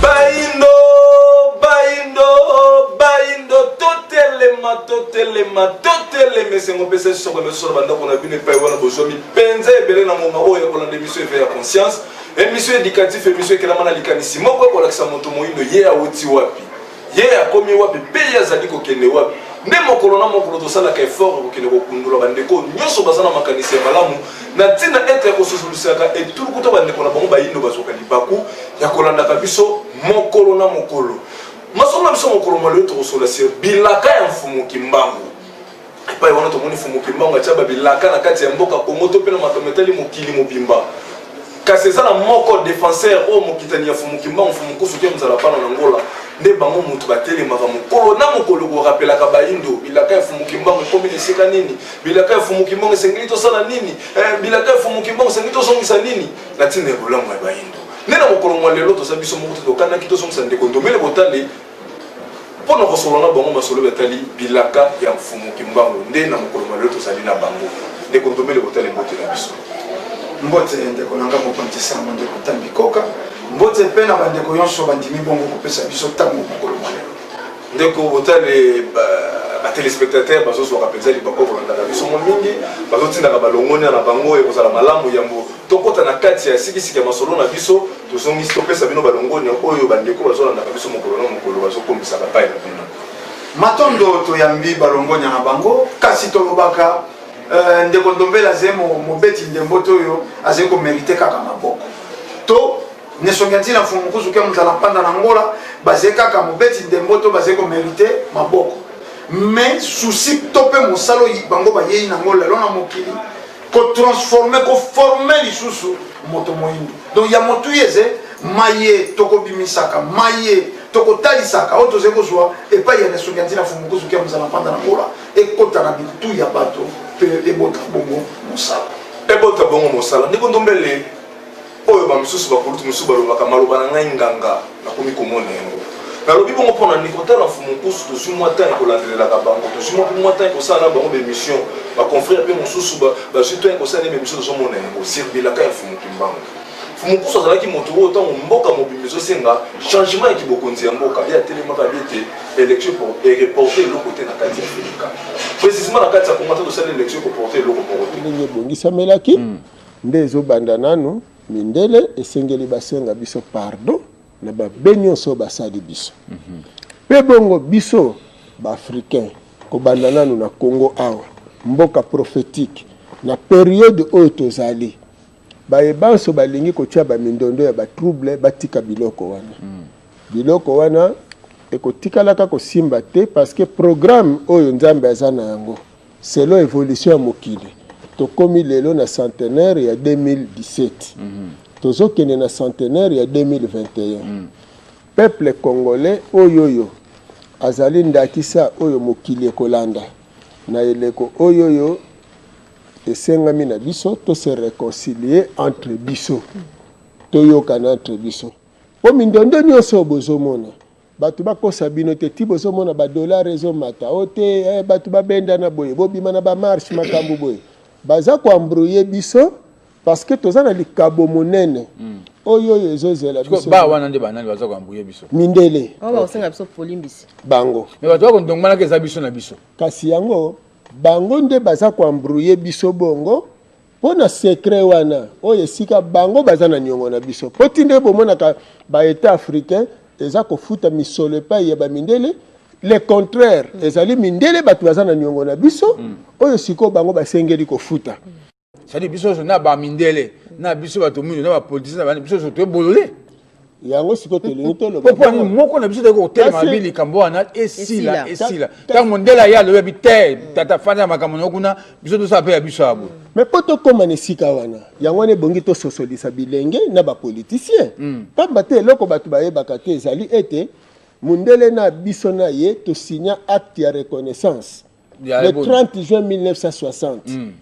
Bayindo, bayindo, bayindo, totelema, totelema, totelema, esengo mpe se soko emeso na bandako na bino epai wana bozwami mpenza ebele na ngonga oyo ya kolanda emission eve ya conscience emission éducatif emission ekelama na likanisi moko ekolakisa moto moyindo ye awuti wapi ye akomi wapi mpe ye azali kokende wapi nde mokolo na mokolo tosalaka effort ya kokende kokundola bandeko nyonso baza na makanisi ya malamu na ntina ete kososolisaka etuluku to bandeko na bango bayindo bazwaka libaku ya kolandaka biso mokolo na mokolo masolo na biso mokolo mwa lelo tokosolola sur bilaka ya mfumu kimbangu epai wana tomoni mfumu kimbangu atya babilaka na kati ya mboka kongo to mpe na makambo etali mokili mobimba Kasi eza na moko defenseur oyo mokitani ya Fumu Kimbangu, Fumu Kusu te mzala pano na Angola, nde bango mutu batelemaka mokolo na mokolo ko rappelaka bayindo bilaka ya Fumu Kimbangu ekomi na esika nini, bilaka ya Fumu Kimbangu esengeli tosala nini, eh, bilaka ya Fumu Kimbangu esengeli tozongisa nini na tina ya bolamu ya bayindo. Nde na mokolo mwa lelo toza biso moko te tokanaki tozongisa ndeko Ndombele Botale. mpo na kosolola na bango masolo etali bilaka ya mfumu kimbangu nde na mokolo malelo tozali na bango ndeko ndombele kotala mbote na biso mbote ndeko na nga mokonzi sango ndeko ntambi koka mbote mpe na bandeko nyonso bandimi bongo kopesa biso ntango mokolo malelo ndeko botale batelespectateur bazozwaka mpenza libaku kolandaka biso mwa mingi bazotindaka balongonia na bango ekozala malamu yambo tokota na kati ya sikisiki ya masolo na biso Tozongisi topesa bino balongonya oyo bandeko bazolandaka biso mokolo na mokolo bazokomisaka pai na bino. Matondo toyambi balongonya na bango, kasi tolobaka euh, ndeko Ndombele azali mobeti ndembo te oyo azali komerite kaka maboko to nesongi ntina mfumu mokusu ke mozala mpanda na ngola bazali kaka mobeti ndembo to bazali komerite maboko mais susi to mpe mosala oyo bango bayei na ngo lelo na mokili ko transformer ko former lisusu moto moyindo donc ya motu yeze maye tokobimisaka maye tokotalisaka oyo tozali kozwa epai ya nesongi ya ntina fumukuzuki ya mozala mpanda na bola ekota na bitu ya bato mpe ebota bongo mosala ebota bongo mosala ndeko ndombele oyo bamosusu bakulutu mosusu balobaka maloba na ngai nganga nakomi komona yango nalobi bongo mpo na nini kotala mfumu nkusu tozwi mwa ntango ekolandelelaka bango tozwi mwa mwa ntango ekosala na bango baémission baconfrère mpe mosusu bazwi ntango ekosala nde baémission tozomona yango sirbilaka ya mfumu kimbangu mfumu nkusu azalaki moto oyo ntango mboka mobimba ezosenga changement ya kibokonzi ya mboka ye atelemaka abi ete élection ereporte eloko te na kati ya felika précisement na kati ya kongo ata tosali élection ekoporte eloko moko te ndenge ebongisamelaki hmm. Nde ezo banda nanu mindele esengeli ba senga biso pardon na ba be nionso oyo basali biso mm -hmm. Pe bongo biso ba africain kobanda nanu na Congo awa mboka prophetique na periode oyo tozali baye banso balingi kotia ba mindondo ya ba trouble batika biloko wana mm. biloko wana ekotikalaka kosimba te parce que programme oyo Nzambe aza na yango Selon evolution ya mokili, tokomi lelo na centenaire ya 2017. Tozokende na centenaire ya 2021. Peuple congolais oy'oyo azali ndakisa oyo mokili ekolanda na eleko oy'oyo esengami na biso to se reconcilier entre biso, toyokana entre biso. Po mindondo nionso oyo bozomona, Batu bakosa bino te ti bozomona ba dollars ezomata o te eh, batu babendana boye bobima na ba marche makambo boye baza ko embrouiller biso parce que toza na likabo monene mm. oyo oyo ezozela biso ba wana nde banani baza ko embrouiller biso mindele oh, ba osenga biso polimbisi bango mais bato bako ndongmanaka eza biso na biso kasi yango bango nde baza ko embrouiller biso bongo mpo na secret wana oyo esika bango baza na niongo na biso mpo ti nde bomonaka ba etat africain eza kofuta misolo epai ya bamindele le contraire mm. ezali mindele bato baza na niongo na biso mm. oyo sikoyo bango basengeli kofuta mm. sadi biso nyonso na bamindele na biso bato mingi na bapolitisien na bana biso nyonso toye bolole yango sikoyo tolingi toloba mpo nini moko na biso toyei kotelema bi likambo wana esila esila ntango mondele aye alobi abi te tata fanda ya makambo na yo kuna biso tosala mpe ya biso ya boye me mpo tokóma na esika wana yango wana ebongi tososolisa bilenge na bapolitisien hmm. mpamba te eloko bato bayebaka te ezali ete mondele na biso na ye tosinya acte ya reconnaissance le 30 juin 1960 hmm.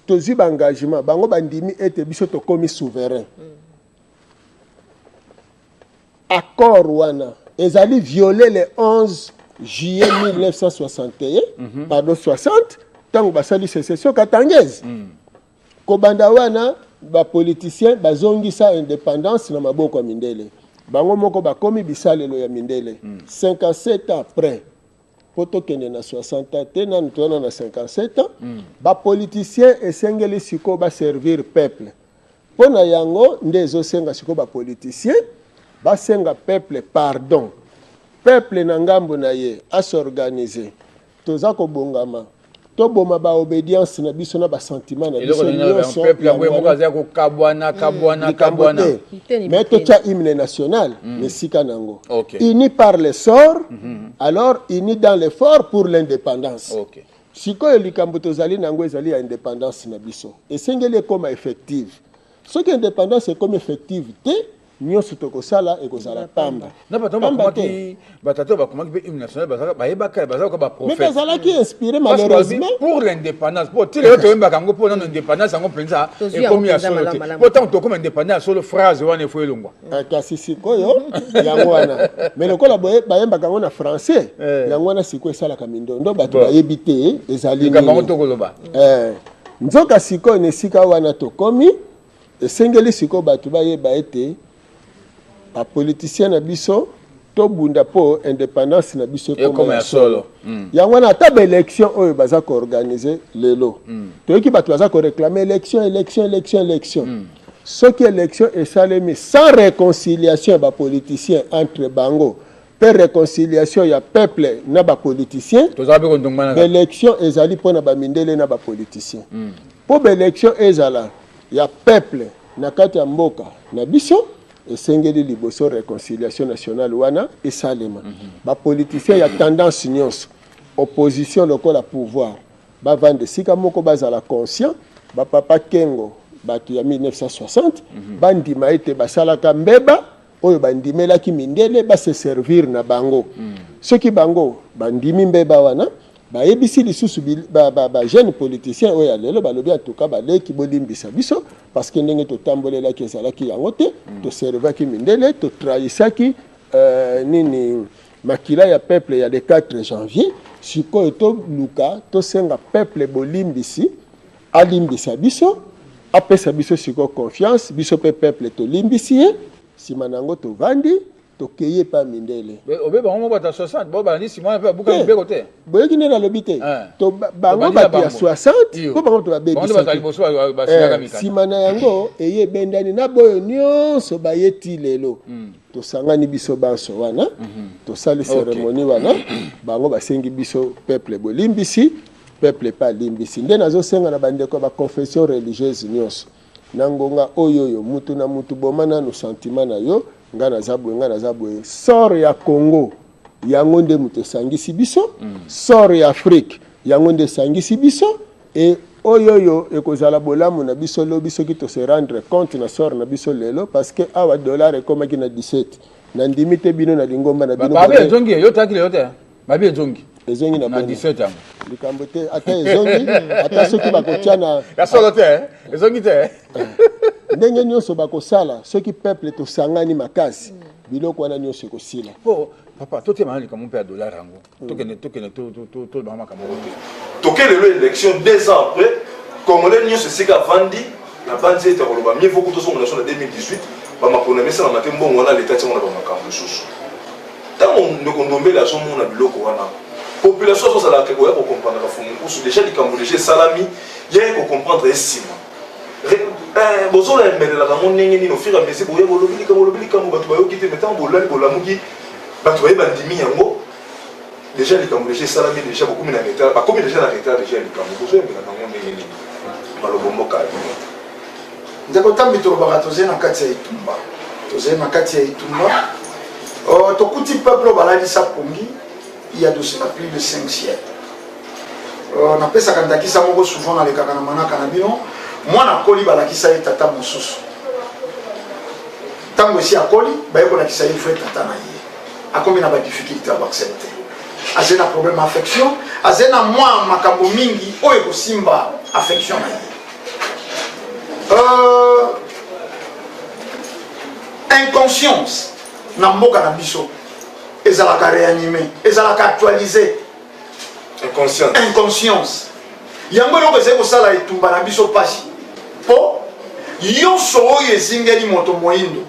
tozwi baengagement bango bandimi ete biso tokomi souverain hmm. Accord wana ezali viole le 11 juillet 1961 mm -hmm. pardon 60 ntango basali secession katangese mm. kobanda wana bapoliticien bazongisa independance na maboko ya mindele bango moko bakomi bisalelo ya mindele mm. 57 ans après po tokende na 60 ans te nanu toyana na 57 ans mm. bapoliticien esengeli sikoyo baservir peuple mpo na yango nde ezosenga sikoyo bapoliticien basenga peuple pardon peuple na ngambo na ye asorganize toza kobongama toboma ba obedience na biso na ba sentiment na biso nyonso peuple yango moko azali kokabwana hmm. kabwana kabwana mais totya hymne national na hmm. esika na yango uni par le sort hmm. alors uni dans l'effort pour l'indépendance sikoyo likambo tozali na yango ezali ya indépendance na biso esengeli ekoma effective soki indépendance ekomi effective te nyonso tokosala ekozala pamba na bato yango bakomaki batata bakomaki mpe hymne national bazalaka bayebaka bazalaka baprofete azalaki inspiré malheureusement pour l'indépendance mpo ti lelo toyembaka yango mpo nano indépendance yango mpenza ekomi ya solo te mpo ntango tokoma indépendance ya solo phrase wana efo elongwa ah, kasi sikoyo yango wana mais lokola bayembaka yango na français eh. yango wana sikoyo esalaka mindondo bato bayebi te ezali likambo yango tokoloba eh. nzoka sikoyo na esika wana tokomi Esengeli sikoyo bato bayeba ete ba politiciens na biso tobunda mpo independance na biso ekoma ya solo mm. yango wana ata baélection oyo baza koorganize lelo mm. toyoki bato baza koreklame élection élection élection élection mm. soki élection esalemi sans réconciliation ya bapoliticien entre bango mpe réconciliation ya peuple na bapoliticien baélection ezali mpo na bamindele na bapoliticien Po ba elections ezala ya peuple na kati ya mboka na biso, esengeli liboso reconciliation nationale wana esalema. Ba politiciens ya tendance nionso, opposition lokola pouvoir, bavanda esika moko, bazala conscients, ba Papa Kengo, batu ya 1960, bandima ete basalaka mbeba oyo bandimelaki mindele ba se servir na bango mm. soki bango bandimi mbeba wana bayebisi lisusu bajeune ba, ba, ba politicien oyo ya lelo balobi antuka baleki bolimbisa biso parce que ndenge totambolelaki ezalaki yango te mm. toservaki mindele totrahisaki euh, nini makila ya peuple ya le 4 janvier sikoyo toluka tosenga peuple bolimbisi Alimbisa biso, apesa biso sikoyo confiance, biso pe peuple tolimbisi ye, sima na yango tovandi tokei epai ya mindele obe bango moko bato ya 60 bo balandi nsima wana mpe babuka eh, mibeko te boyoki nde nalobi te eh. bango bato ya 60 mpo bango bato babebisaki nsima eh, na yango eye ebendani na boyo nyonso baye ti lelo hmm. tosangani biso banso wana hmm. tosali seremoni wana bango basengi biso peuple bolimbisi Peuple epai alimbisi. Nde nazosenga na bandeko ya ba confession religieuse nyonso na ngonga oyoyo, mutu na mutu boma nanu sentiment na yo, nga naza boye, nga naza boye. Sort ya Congo yango nde mutu esangisi biso, mm. sort ya Afrique yango nde esangisi biso e oyoyo ekozala bolamu na biso lobi soki tose rendre compte na sort na biso lelo parce que awa dollar ekomaki na 17 nandimi te bino na lingomba na bino. Babe ezongi yo taki lelo te. mabe ezongi ezongi na na beni 17 yango likambo te ata ezongi ata soki bakotya na ya solo te eh? ezongi te eh? ndenge nyonso bakosala soki peuple tosangani makasi biloko wana nyonso ekosila po papa totema na likambo mpe ya dollar yango tokende tokende to- to- to- tolobaka makambo yango te toke lelo élection deux ans après congolais nyonso esika avandi nabanzi ete akoloba mieux vaut kutu ozongela so na 2018 bamakolo na mesa na mate mbongo wana leta tiango na bamakambo mosusu ntango ndeko ndombele azomona biloko wana population azozalaka koya kokomprendre kafumu nkusu deja likambo deja esalami yeye kokomprendre esima eh, bozola emelelaka yango ndenge nini ofira mesi boye bolobi likambo olobi likambo bato bayoki te me ntango bolali bolamuki bato baye bandimi yango deja likambo deja esalami deja bokomi na retard bakomi deja na retard deja ya likambo bozoyembela nango ndenge nini malobo mboka Ndeko Tambi, tolobaka tozali na kati ya etumba, tozali na kati ya etumba. Uh, tokuti peuple oyo balalisa pongi ya de cela plus de 5 siècle. Uh, napesaka ndakisa moko souvent nalekaka na manaka na bino, mwana akoli balakisa ye tata mosusu. Ntango esi akoli baye kolakisa ye vrai tata na ye, akomi na badifficulté ya baaccepte, azali na problème ya affection, azali na mwa makambo mingi oyo ekosimba affection na ye. euh, inconscience na mboka na biso ezalaka réanime ezalaka actualise inconscience, inconscience. yango eloko ezali kosala etumba na biso mpasi mpo nyonso oyo ezingeli moto moindo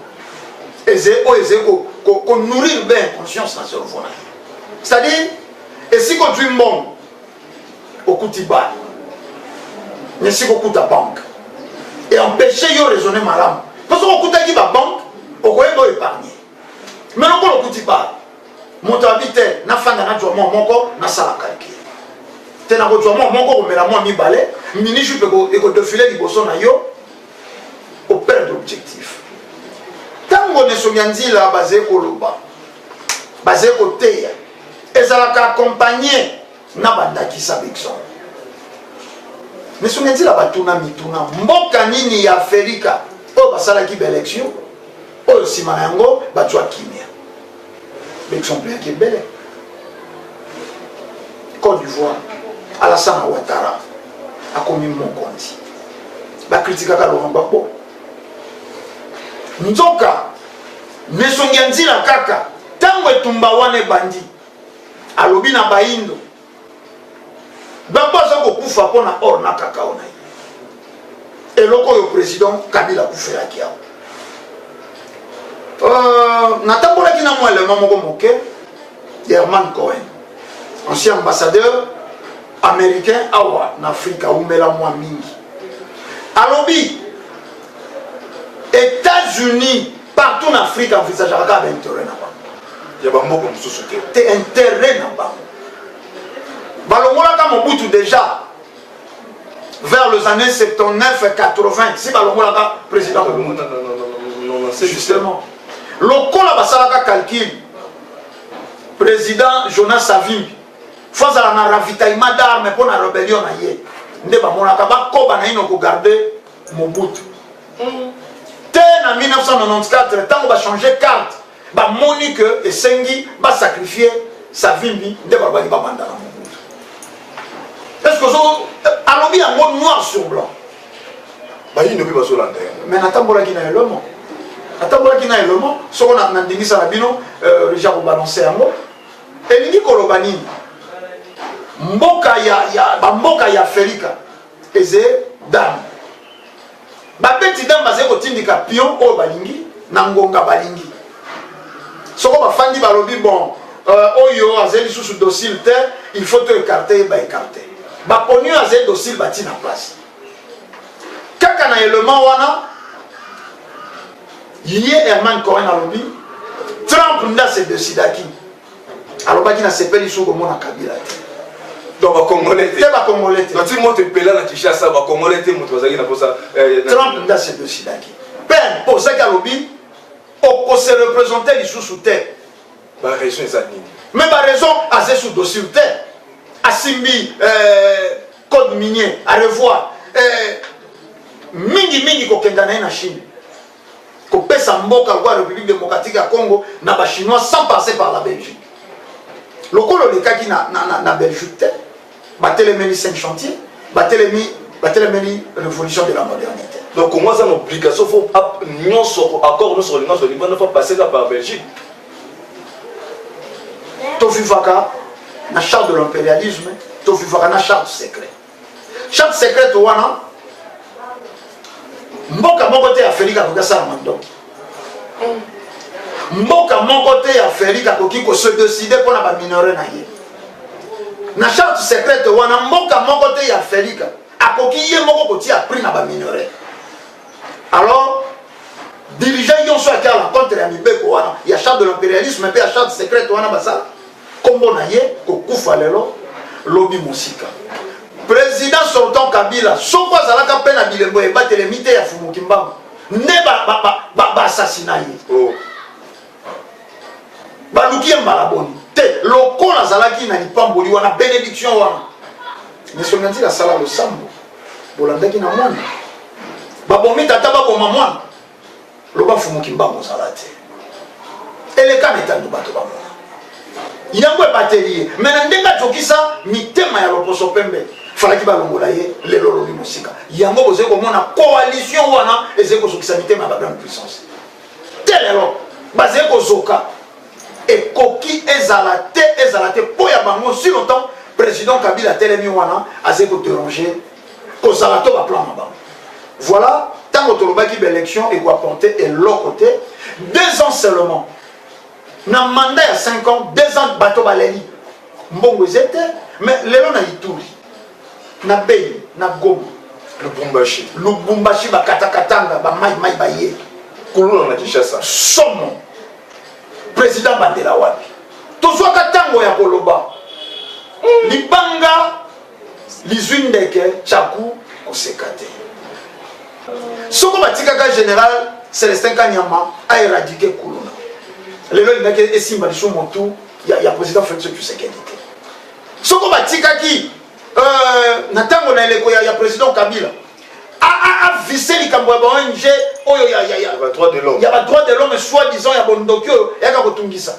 oyo ezali konourrir bien inconscience na cerveau na ye c'est-à-dire esika ozwi mbongo okuti bana mais siko okuta banque et empêcher yo raisonner malamu mpo soki okutaki babanque okoyeba oyo épargne mais lokola okuti bana moto abi te nafanda najwa mwa moko nasala calcul te nakozwa mwa moko komela mwa mibale mini jupe ekodefile liboso na yo operdre objectif ntango nesomya nzila bazali koloba bazali koteya ezalaka accompagne na bandakisa baexemple misungenzila batuna mituna mboka nini ya afrika oyo basalaki baelection oyo nsima na yango bazwa kimia baexemple yaki ebele cote d'ivoire alasana watara akomi mokonzi bakritikaka laurent gbagbo nzoka na esongi ya nzila kaka ntango etumba wana ebandi alobi na bayindo bango aza kokufa mpo na or na kakao na ye eloko oyo président kabila akufelaki yango euh, natambolaki na mwa elema moko moke herman cohen ancien ambassadeur américain awa na afrika aumela mwa mingi alobi Etats-Unis partout na Afrique envisageaka kaka bainteret na bango ya bamboka mosusu te te interet na bango balongolaka Mobutu déjà vers les années 79 80 si balongolaka président Mobutu justement lokola basalaka calcul président Jonas Savimbi fo azala na ravitaillement d'arme mpo na rébellion na ye nde bamonaka bakoba naino kogarde Mobutu. Hmm. Te na 1994 tango ba changer carte ba moni que esengi ba sacrifier Savimbi nde balobaki ba banda na Mobutu. Est-ce que ozo alobi yango noir sur blanc. Bayindo mpe bazolanda yango. Mais natambolaki na elomo. Natambolaki na elomo soko na ndingisa na bino euh, ja kobalanse yango elingi koloba nini mboka ya, ya bamboka ya afrika eze dame babeti dame bazali kotindika pion oyo balingi na ngonga balingi soko bafandi balobi bon euh, oyo azali lisusu docile te il faut to ekarte ye baekarte baponi oyo azali docile batii na place kaka na element wana ye herman cohen alobi trump nde asedesidaki alobaki na sepeli su komona kabila te donc bacongolais te bacongolais te ti moto epela na kinshasa bacongolais te moto bazalaki na posa eh, trump nde asedosidaki pene mpo ozaki alobi okose represente lisusu te baraison eza nini me baraison aze su dossier te asimbi eh, code minier arevoir eh, mingi mingi kokenda na ye na chine kopesa mboka lokola république démocratique ya congo na bachinois sans passer par la belgique lokola olekaki na, na, na, na belgique te batelemeli cinq chantier batelemi batelemeli révolution de la modernité donc congo aza na obligation fo nyonso accord nyonso kolinga ozwa libanda fo paseka par belgique tovivaka na charte de l'impérialisme tovivaka na charte secret Chambre secrète wana mboka moko te Afrika akoki asala mandoki. Mboka moko te ya Afrika akoki ko se décider mpo na ba minerais na ye. Na charte secrète wana mboka moko te ya Afrika akoki ye moko kotia prix na ba minerais. Alors dirigeant nyonso atiala contre ya mibeko wana ya charte de l'impérialisme mpe ya charte secrète wana basala Kombo na ye kokufa lelo lobi mosika. President sortant Kabila soko azalaka mpe na bilembo ya ebatelemi te ya Fumu Kimbangu nde ba ba ba ba, ba assassina ye. Oh. Baluki ye mbala boni te lokola azalaki na lipamboli wana benediction wana. Misonga nzila sala losambo bolandaki na mwana babomi tata baboma mwana loba fumu kimbangu ozala te eleka na etandu bato bamona yango ebateli ye me na ndenge ajokisa mitema ya loposo pembe falaki balongola ye lelo olobi mosika yango bozali komona coalition wana ezali kozokisa mitema ya bagrande puissance te lelo bazali kozoka ekoki ezala te ezala te mpo ya bango si longtemps président kabila atelemi wana azali koderange kozala to baplan na bango voilà ntango tolobaki baélection ekoapporte eloko te deux ans seulement na mandat ya 5 ans deux ans bato baleli mbongo eze te mais lelo na ituri na beni na goma lubumbashi lubumbashi bakatakatanga bamaimai baye kuluna na kinshasa somo président bandela wapi tozwaka ntango ya koloba hmm. libanga lizwi ndeke chaku koseka te soko batikaka général celestin kanyama aeradike kuluna lelo elingaki esimba lisu motu ya, ya président félix tshisekedi te soko batikaki euh, na ntango na eleko ya, ya président kabila avise likambo ya ba ong oyo ya badroit de l'homme soi disant ya bondoki oyo yaka kotungisa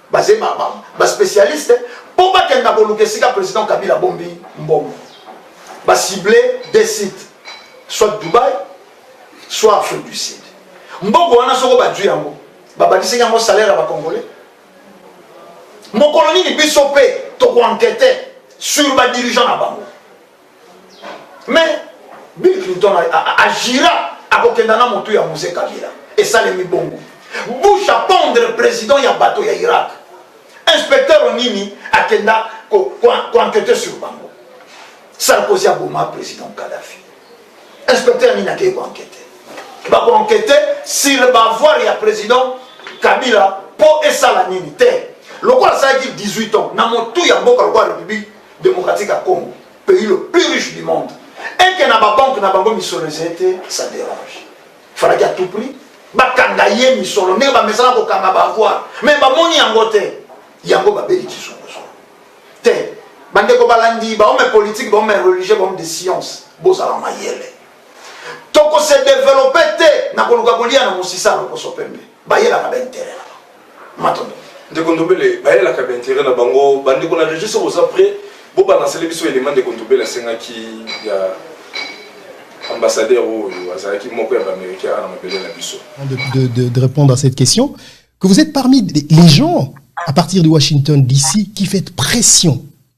Baze ba ba ba specialiste po bakende na koluka esika president Kabila bombi mbongo. Ba cible des sites soit Dubaï soit Afrique du Sud. Mbongo wana soko bajui yango babadisaki yango salaire ya bacongolais mokolo nini biso mpe tokoankete sur badirigeant na bango mais bill clinton agira akokenda na motu ya mose kabila esalemi bongo bush apondre président ya bato ya irak inspecteur nini akenda koankete sur bango sarkozy aboma président kadafi inspecteur nini akei koankete bakoankete sur bavoir ya président kabila mpo esala nini te lokola asalaki 18 ans na motu ya mboka lokola république Democratique ya Congo, pays le plus riche du monde. Et que na ba banque na bango misolo ezali te, ça dérange. Falaki à tout prix bakanga ye misolo ndenge bamesana kokanga bavoir mais bamoni yango te yango babeli kizunguzungu te bandeko balandi baome politike baome religieux baome de science bozala mayele tokose develope te na koluka kolia na mosisa lokoso pembe bayelaka ba intérêt na bango matondo ndeko ndobele bayelaka ba intérêt na bango bandeko na regie soki oza près bobalansele biso elema ndeko ndobele asengaki ya ambassadeur oyo azalaki moko ya baaméricain ana mabele na biso de, de, de, de répondre à cette question que vous êtes parmi les gens à partir de Washington DC qui fait pression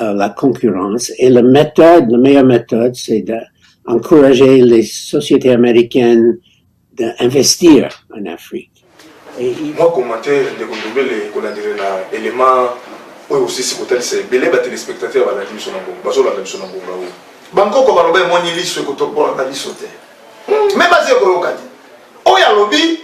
euh, la concurrence. Et la méthode, la meilleure méthode, c'est d'encourager les sociétés américaines d'investir en Afrique. Et il... Moi, commentaire, de Kondobele, qu'on a dit, l'élément, oyo osisi kotalisa ebele batelespectateur balandi biso na ngongo bazolanda biso na ngongo yango bankoko baloba emoni liso ekotobola na liso te me baza ekoyoka te oyo alobi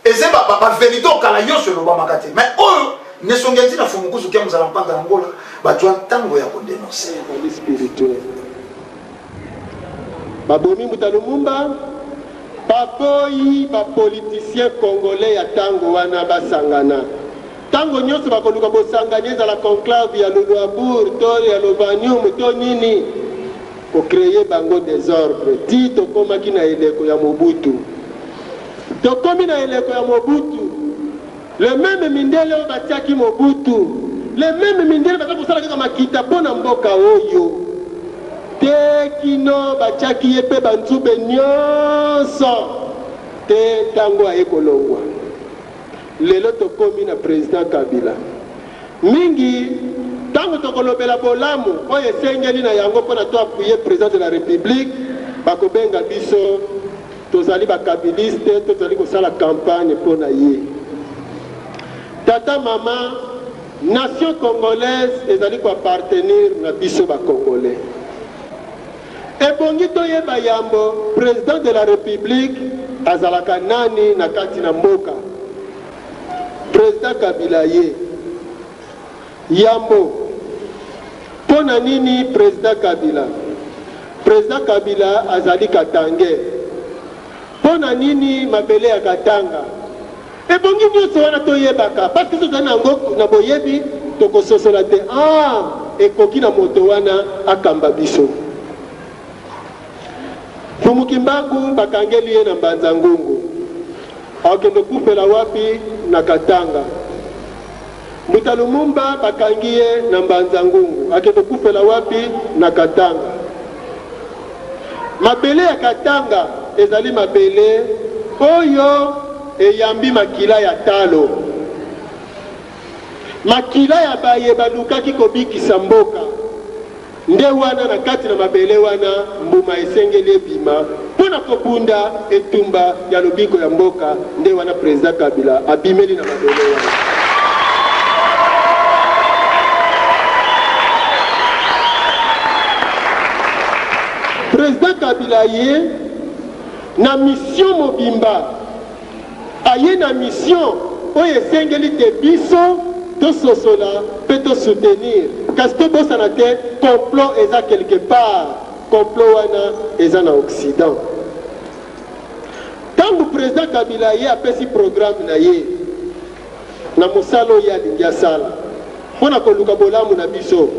Eze ba ba, ba verite o kala yonso elobamaka te mais oyo nesongi enti na fumukusu kia muzala mpanda na ngola bajua ntango ya ko denoncer. Ezali spirituel. Babomi Mbuta Lumumba, baboyi ba politiciens congolais ya tango wana basangana. Tango nionso bakoluka bosangani ezala conclave ya Luluabourg to ya Lovanium to nini, ko creer bango desordre tii tokomaki na eleko ya Mobutu. Tokomi na eleko ya Mobutu. Les memes mindele oyo batiaki Mobutu, les memes mindele baza kosala kaka makita mpo na mboka oyo tee kino batiaki ye mpe banzube nionso tee tango aye kolongwa. Lelo tokomi na President Kabila. Mingi tango tokolobela bolamu oyo esengeli na yango mpo na to appuyer President de la Republique, bakobenga biso, Tozali ba kabiliste to zali kosala campagne pona ye? Tata maman nation congolaise ezali ko appartenir na biso ba congolais. Ebongi toyeba yambo president de la republique azalaka nani na kati na mboka? President kabila ye. Yambo, Mpo na nini president Kabila? President Kabila azali katangais. Mpo na nini mabele ya Katanga? Ebongi nyonso wana toyebaka, parce que soki tozali na yango na boyebi, tokososola te, ah ekoki na moto wana akamba biso. Mfumu Kimbangu bakangeli ye na Mbanza Ngungu, akende kufela wapi? Na Katanga. Mbuta Lumumba bakangi ye na Mbanza Ngungu, ake kokufela wapi? Na Katanga. Mabele ya Katanga ezali mabele oyo eyambi makila ya talo, makila ya baye balukaki kobikisa mboka. Nde wana, na kati na mabele wana, mbuma esengeli ebima mpo na kobunda etumba ya lobiko ya mboka. Nde wana President Kabila abimeli na mabele wana. President Kabila aye na mission mobimba Aye na mission oyo esengeli que biso to sosola pe to soutenir kasi to bosana te complot eza quelque part complot wana eza na occident tangu president kabila aye apesi programme naye Na mosala oyo ye alingi asala mpo na koluka bolamu na biso,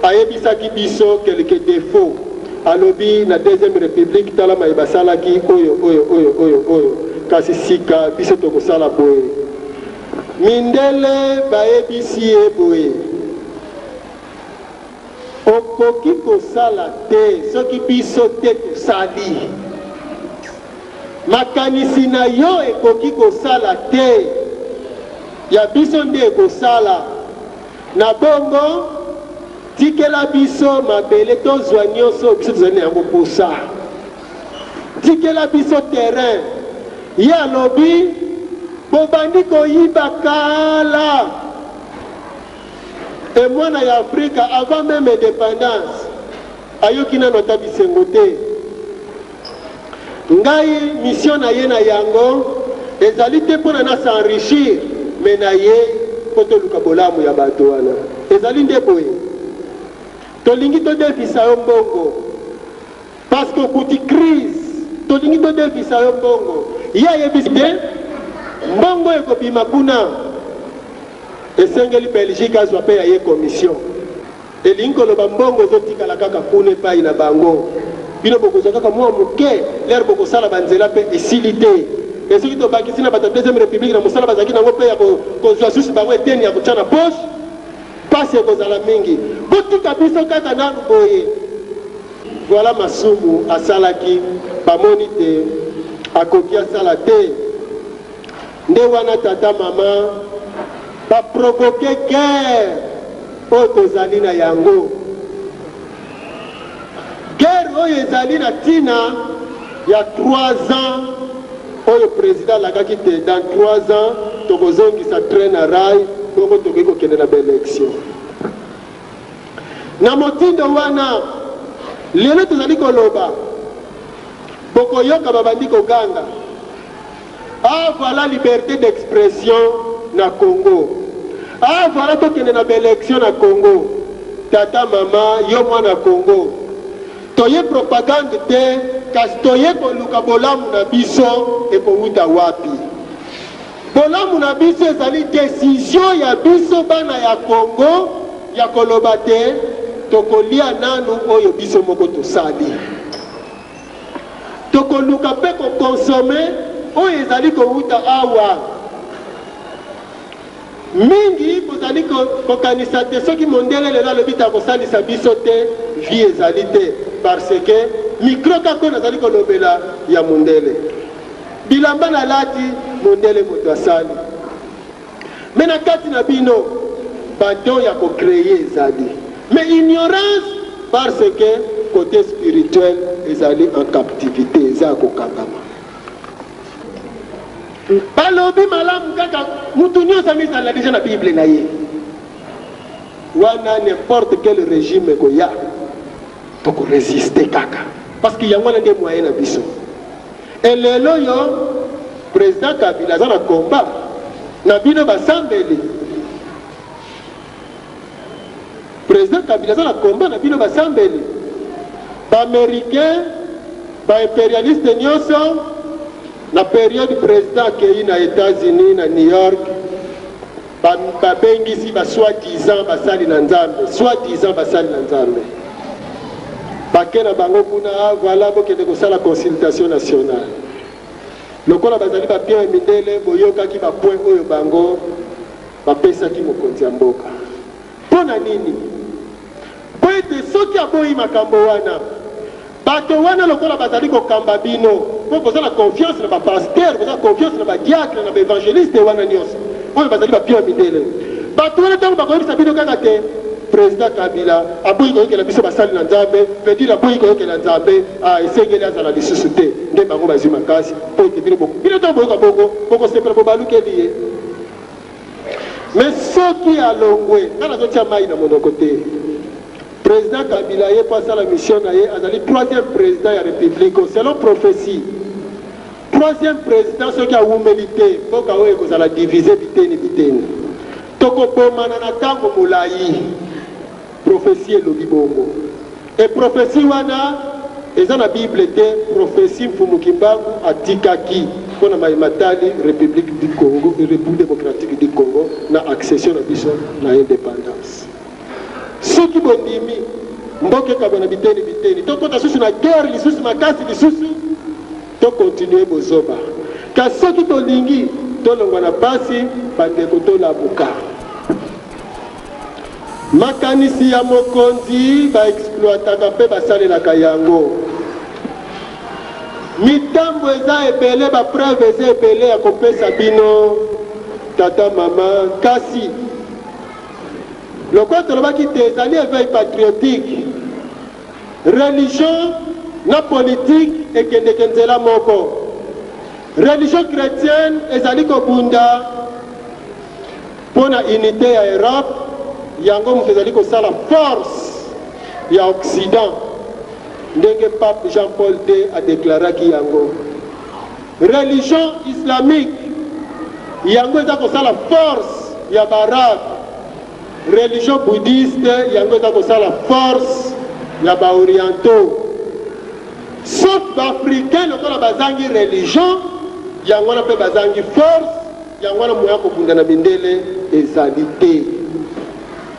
ayebisaki biso quelques defauts. Alobi, Na Deuxième Republique, tala maye basalaki, oyo, oyo, oyo, oyo, oyo, kasi sika biso tokosala boye. Mindele bayebisi ye boye. Okoki kosala te soki biso te tosali. Makanisi na yo ekoki kosala te, ya biso nde ekosala. Na bongo, tikela biso mabele tozwa nyonso oyo biso tozali na yango mposa. Tikela biso terrain. Ye alobi, Bobandi koyiba kala. Te mwana ya Afrika avant meme independance ayoki nanu ata bisengo te. Ngai mission na ye na yango ezali te pona na s'enrichir mais na ye po toluka bolamu ya bato wana. Ezali nde boye. Tolingi todefisa yo mbongo. Parce que okuti crise tolingi todefisa yo mbongo ye ayebisi te mbongo ekobima kuna esengeli belgique azwa pe ya ye commission elingi koloba mbongo ezotikala kaka kuna epai na bango bino bokozwa kaka mwa moke lere bokosala banzela mpe esili te mpe soki tobakisi na bato ya deuxième république na mosala bazalaki nango mpe ya kozwa susu bango eteni ya kotya na poche Pasi ekozala mingi botika biso kaka nanu boye. Voilà masumu asalaki bamoni te akoki asala te nde wana tata mama ba provoque guerre oyo tozali na yango. Guerre oyo ezali na tina ya trois ans oyo president alakaki te dans trois ans tokozongisa train na rail bongo tokoki kokende na ba election. Na motindo wana lelo tozali koloba bokoyoka babandi koganga. Ah voila liberte d'expression na Congo ah voila tokende na ba election na Congo tata mama yo mwana Congo toye propagande te kasi toye koluka bolamu na biso ekowuta wapi bolamu na biso ezali desizio ya biso bana ya Congo ya koloba te tokolia nanu oyo biso moko tosali. Tokoluka mpe ko consommer oyo ezali kowuta awa. Mingi bozali kokanisa te soki mondele lelo alobi te akosalisa biso te, vie ezali te parce que micro kaka oyo nazali kolobela ya mondele. Bilamba nalati, mondele moto asali. Mais na kati na bino ba dons ya ko creer ezali mais ignorance par ce que cote spirituel ezali en captivite eza ya ko kangama. Ba lobi malamu kaka mutu nionso amizala deja na bible na ye wana n'importe quel regime ekoya toko resister kaka parce que yango wana nde moyen na biso. Et lelo yo president kabila aza na combat na bino basambeli president kabila aza na combat na bino basambeli baamericain baimperialiste nyonso na periode president akei na etats-unis na new york Ba babengisi ba soit disant basali na nzambe soit disant basali na nzambe bake na bango kuna ah, voilà bokende kosala consultation nationale lokola bazali ba pierre mindele boyokaki ba point oyo bango bapesaki mokonzi ya mboka Mpo na nini? Mpo ete soki aboyi makambo wana, bato wana lokola bazali kokamba bino, mpo boza na confiance na ba pasteurs, boza na confiance na ba diacres, na ba evangelistes wana nionso oyo bazali ba pion ya mindele, bato wana tango bakoyebisa bino kaka te President Kabila aboyi koyokela biso basali na Nzambe, veut-dire aboyi koyokela Nzambe, ah esengeli azala lisusu te, nde bango bazwi makasi mpo ete bino boko. Bino tango boyoka bongo, bokosepela bobalukeli ye. Mais soki alongwe, nga nazo tia mayi na monoko te, President Kabila ye po asala mission na ye, azali troisième President ya Republique oyo. Selon prophetie, troisième President soki awumeli te, mboka oyo ekozala diviser biteni biteni. Toko bomana na tango molayi. Prophetie elobi bongo et prophetie wana eza na bible te, prophetie Mfumu Kimbangu atikaki mpo na maye matali Republique du Congo, Republique Democratique du Congo na accession na biso na independance. Soki bondimi mboka ekabwa na biteni biteni, tokota susu na guerre lisusu makasi lisusu, to continuer bozoba. Kasi soki tolingi tolongwa na pasi, bandeko tolamuka. Makanisi ya mokonzi ba exploitaka mpe basalelaka yango. Mitambo eza ebele ba preuve eza ebele ya kopesa bino tata mama kasi lokola tolobaki te ezali eveil patriotique religion na politique ekendeke nzela moko religion chrétienne ezali kobunda Mpo na unite ya Europe, yango moto ezali kosala force ya Occident, ndenge Pape Jean-Paul ii a declaraki yango. Religion islamique yango eza kosala force ya ba Arabes, religion bouddhiste yango eza kosala force ya ba Orientaux. Sauf ba Africains lokola bazangi religion, yango wana mpe bazangi force Yango wana moyen ya kobunda na mindele ezali te.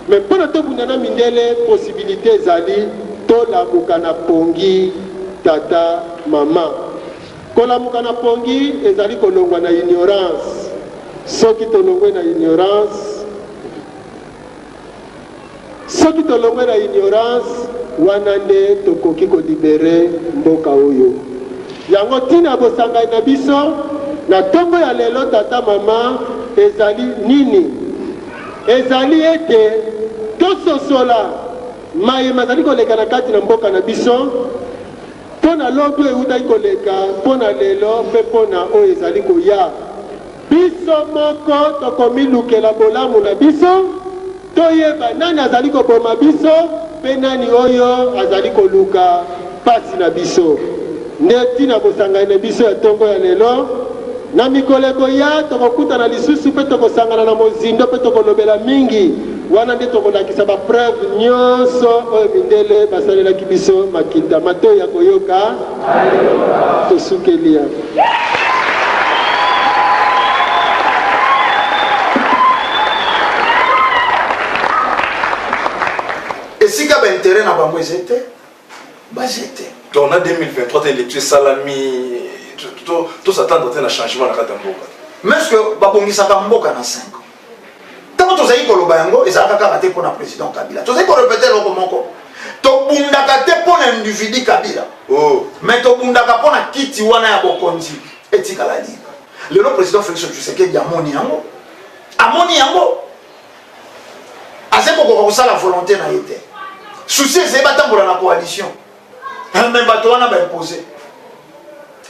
Mais mpo na tobunda na mindele possibilite ezali, tolamuka na pongi tata, maman. Kolamuka na pongi ezali kolongwa na ignorance. Soki tolongwe na ignorance, Soki tolongwe na ignorance wana nde tokoki ko libere mboka oyo. Yango tina ya bosangani na biso na tongo ya lelo tata mama ezali nini? Ezali ete tososola maye mazali koleka na kati na mboka na biso mpo na lobi oyo ewutaki koleka, mpo na lelo mpe mpo na oyo ezali koya. Biso moko tokomilukela bolamu na biso, toyeba nani azali koboma biso mpe nani oyo azali koluka mpasi na biso. Nde ntina ya bosangani na biso ya ntongo ya lelo. Na mikolo ekoya, tokokutana lisusu mpe tokosangana na mozindo mpe tokolobela mingi, wana nde tokolakisa ba preuves nyonso oyo mindele basalelaki biso makita, matoyi ya koyoka, Esukeli ya. Esika ba intérêt na bango ezete, ba jete. Donc na 2023 te lecture salami to to s'attendre te na changement na kata mboka. Mais ce que babongisaka mboka na 5 ntango tozali koloba yango ezalaka kaka te mpo na président kabila tozali korepete eloko moko tobundaka te mpo na individu kabila oh. mais tobundaka mpo na kiti wana ya bokonzi etikala libre lelo président félix tshisekedi amoni yango amoni yango aza kokoka kosala volonté na ye te susi ezali batambola na coalition eh, mais bato wana ba impose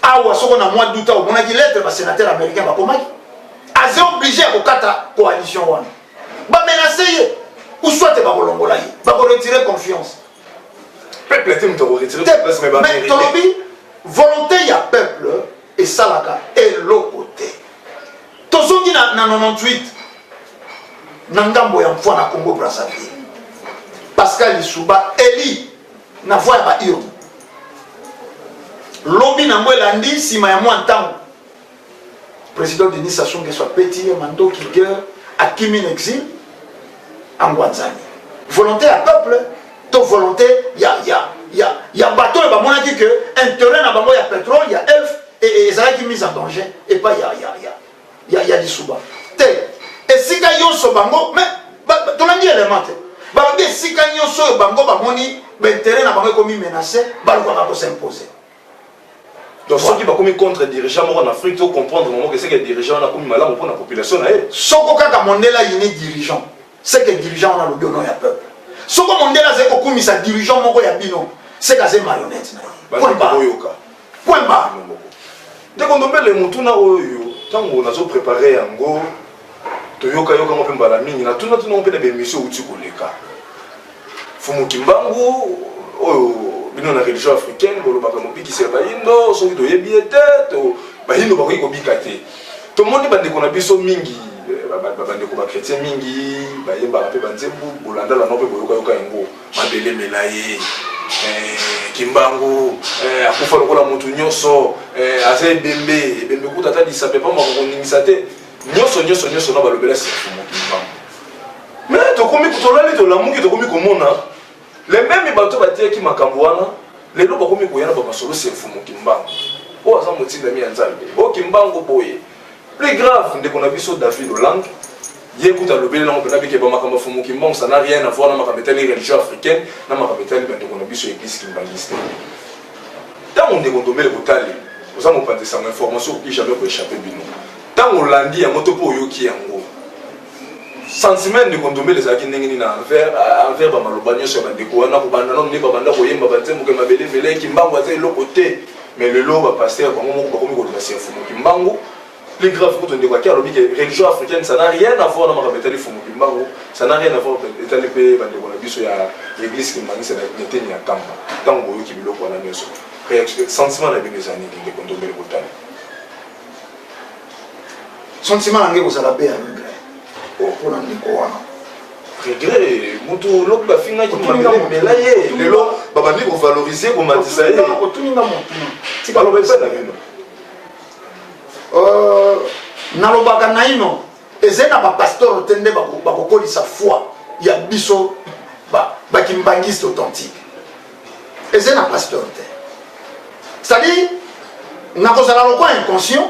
awa soko na mois d'août omonaki lettre ba sénateur américain bakomaki aza oblige ya kokata coalition wana bamenase ye ou soit bakolongola ye bakoretire confiance peuple te moto akoretire mais tolobi volonté ya peuple esalaka eloko te tozongi na, na 98 na ngambo ya mfwa na congo brazzaville pascal lisuba eli na voie ya ba urne lobi nango elandi nsima ya mwa ntango président denis sassou nguesso apeti ye mandoki guerre akimi na exil angwanzani volonté ya peuple to volonté ya, ya, ya, ya bato oyo bamonaki ke intérêt na bango ya pétrole ya elf ezalaki mise en danger epai ya, ya, ya ya, ya lisuba te esika yonso bango me tolandi element te balobi esika nyonso oyo bango bamoni baintere na bango ekomi menace balukaka kosimpose donc soki bakomi contre dirigeant moko na afrique tocomprendre bango keseke dirigeant wana akomi malamu mpo na population na ye soko kaka mondele ayini dirigeant Seke dirigeant wana alobi au nom ya peuple. Soko mondele azali kokumisa dirigeant moko ya bino, seke azali marionnette na ye. Point barre. Point barre. Ndeko Ndombele, motuna oyo ntango nazo prepare yango toyokayokango mpe mbala mingi natunatuna mpe na baemission outi koleka Fumu Kimbangu oyo bino na religion africaine bolobaka mobikisi ya bayindo soki toyebi ye te to bayindo bakoki kobika te tomoni bandeko na biso mingi eh, bandeko bakretien mingi bayembaka mpe banzembu bolandalana mpe boyokayoka yango mabelemela ye eh, kimbangu eh, akufa lokola motu nyonso aza ebembe ebembe kuta ata lisape pamba kokoningisa te nyoso nyoso nyoso na balobela sifu mokili mambo me tokomi tolali tolamuki tokomi komona lembemi bato batiyaki makambo wana lelo bakomi koya na bamasolo sifu mokimbango oyo aza motindami ya nzambe o kimbango boye plus grave ndeko na biso david olange ye kuta alobeli nango mpenza bikeba makambo ya fumu kimbango ça n'a rien à voir na makambo etali religion africaine na makambo etali bandeko na biso ya eglise kimbanguiste Tango ndeko Ndombele Botale oza mopanzi sango information okoki jamais ko échapper bino. Tango olandi yango to po oyoki yango. Sentiment ndeko Ndombele ezalaki ndenge nini na envers envers ba maloba nyonso ya ba ndeko wana ko banda nanu nde ba banda koyemba ba nzembo ke mabele ebele kimbangu aza eloko te mais lelo ba pasteur bango moko bakomi koloba siafu mokimbangu Plus grave kutu ndeko akia alobi ke religion africaine ça n'a rien à voir na makambo etali fumu kimbangu ça n'a rien à voir etali mpe bandeko na biso ya l'église kimbangisa na eteni ya kamba ntango boyoki biloko wana nyonso sentiment na bino eza nini ndeko ndombele botali sentiment na nge kozala mpe ya regret oh. mpona ndeko wana regret mutu lobi bafingaki mabela ye lelo babandi kovalorize komatisa ye otuni nga motuna tika baloba eza na bino Euh, nalobaka naino ezali na bapasteur te nde bakokolisa foi ya biso bakimbangiste authentique ezali na pasteur te c'est-à-dire nakozala lokola inconscient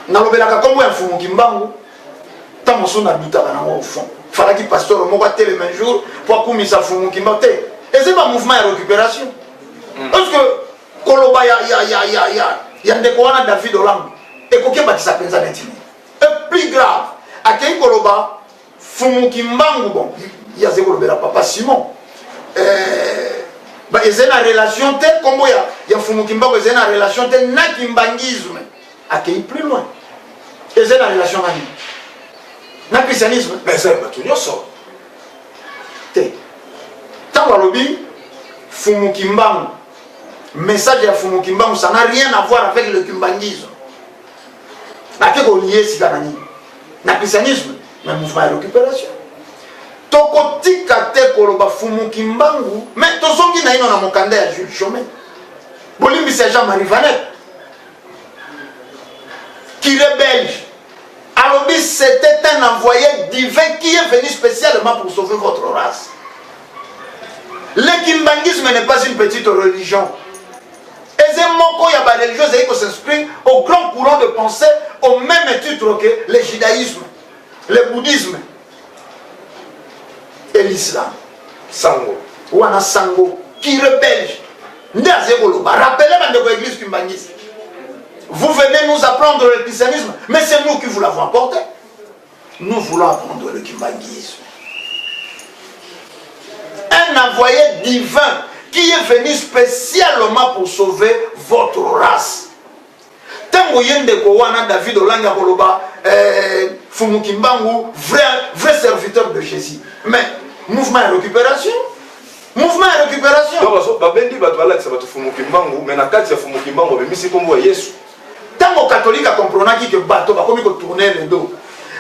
nalobelaka nkombo ya mfumu kimbangu ntango mosusu nadutaka nango au fond falaki pasteur moko atelema jour mpo akumisa mfumu kimbangu te ezali bamouvement ya récupération mm. parce que koloba ya, ya, ya, ya, ya, ya ndeko wana david olambo ekoki ebakisa mpenza neti nini e plus grave akei koloba fumuki mbangu bon ye azali kolobela papa simon eh, ezali na relation te nkombo ya, ya fumuki mbangu ezali na relation te na kimbangisme akei plus loin ezali na relation na nini na christianisme ezali bato nyonso te ntango alobi fumuki mbangu message ya fumu kimbangu ça n'a rien à voir avec le kimbanguisme ake kolie sika na nini na christianisme na mouvement ya récupération tokotika te koloba fumu kimbangu me tozongi naino na mokanda ya jules chome bolimbisi ya jean marie vanet kire belge alobi c'était un envoyé divin qui est venu spécialement pour sauver votre race Le kimbangisme n'est pas une petite religion. eze moko ya bareligion ezali kos'inscrire au grand courant de pensée au même titre que le judaïsme le bouddhisme et l'islam sango wana sango pire belge nde azali koloba rappele bandeko ya église kimbangisi vous venez nous apprendre le christianisme mais c'est nous qui vous l'avons apporté Nous voulons apprendre le kimbanguisme. Un envoyé divin qui est venu spécialement pour sauver votre race. Tango yende ko wana David Olanga koloba euh, Fumu Kimbangu vrai vrai serviteur de Jésus. Mais mouvement de récupération mouvement de récupération. Donc babendi bato balakisa bato Fumu Kimbangu mais na kati ya Fumu Kimbangu bemisi kombo ya Yesu. Tango catholique a comprenaki que bato bakomi ko tourner le dos,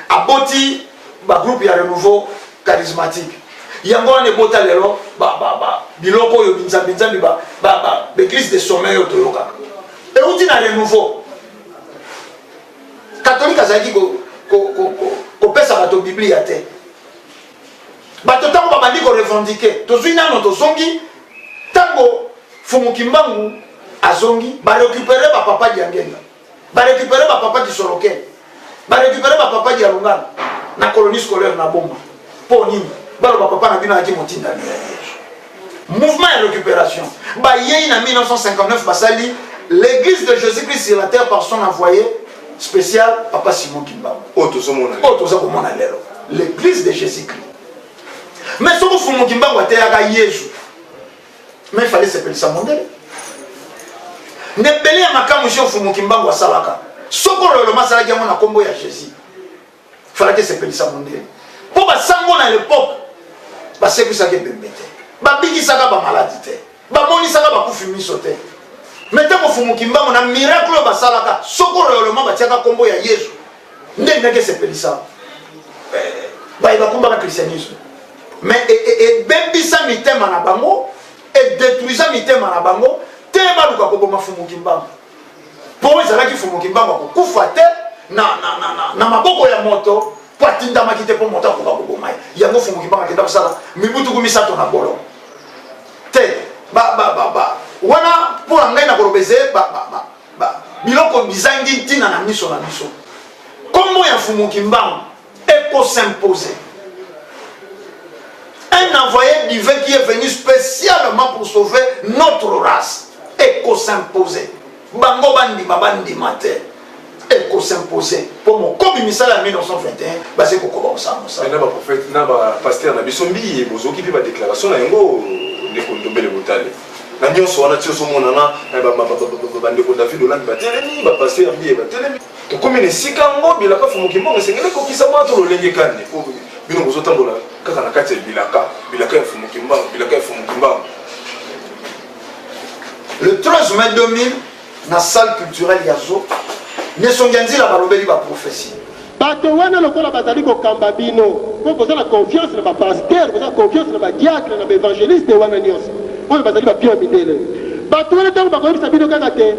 aboti ba groupe ya renouveau charismatique. Yango wana ebota lelo ba ba ba biloko oyo binzambi nzambi ba ba ba b'eglise de sommeil oyo toyokaka. Euti na renouveau. Catholique azalaki ko ko ko kopesa bato Biblia te. bato ntango babandi korevendike tozwi nano tozongi ntango fumu kimbangu azongi barekupere bapapa diangenga barekupere bapapa disorokele barekupere bapapa dialungana na colonie scolaire na boma mpo nini baloba papa na bino ayaki motindami mouvement ya récupération bayei na 1959 basali l'église de jésus-christ sur la terre par son envoyé spécial papa simon kimbangu oyo toza komona lelo l'église de jésus-christ mais soki fumu kimbangu ateyaka yesu mais fale sepelisa mondele ndebele ya makambo si ofumu kimbangu asalaka soko loloma asalaki yango na nkombo ya jésus falaki esepelisa mondele mpo basango na lepoke basekwisaki ebembe te babikisaka bamaladi te bamonisaka bakufi miso te mete mofumuki mbango na miracle oyo basalaka soko royolema batiaka nkombo ya yesu nde ndenge esepelisa eh, baye bakumbaka christianisme mais e, e, ebebisa mitema na bango edetruisa mitema na bango te baluka koboma fumuki mbango mpo ezalaki fumu kimbangu akokufa te na, na, na, na, na maboko ya moto mpo atindamaki te mpo moto akoka koboma ye yango fumu kimbangu akenda kosala mibutuku misato na bolo te ba, ba, ba, ba. wana mpo na ngai nakoloba ezeye ba, ba, ba, ba. biloko bizangi ntina na miso na biso nkombo ya fumu kimbangu Eko s'imposer. Un envoyé divin qui est venu spécialement pour sauver notre race. Eko s'imposer. Bango bandima bandima te. Eko s'imposer. Pour mon komi misala ya 1921, basi kokoba kosala mosala. Na ba prophète na ba pasteur na biso mbiye bozoki pe ba déclaration na yango ndeko ndombele botale. na nyonso wana ti ozomonana bandeko david olambi batelemi bapaster ya mbiye batelemi Tokomi na esika yango, bilaka fumuki mbongo esengeli ekokisa mwa to lolenge kani po bino bozotambola kaka na kati ya bilaka bilaka ya fumuki mbango bilaka ya fumuki mbango le 13 mai 2000 na salle culturelle ya zo nesongi ya nzila balobeli baprofesi bato wana lokola bazali kokamba bino mpo boza na confiance na bapaster boza confiance na badiakre na baevangeliste wana nyonso oyo bazali ba pion ya mindele. Batu wana tango bakoyebisa bino kaka te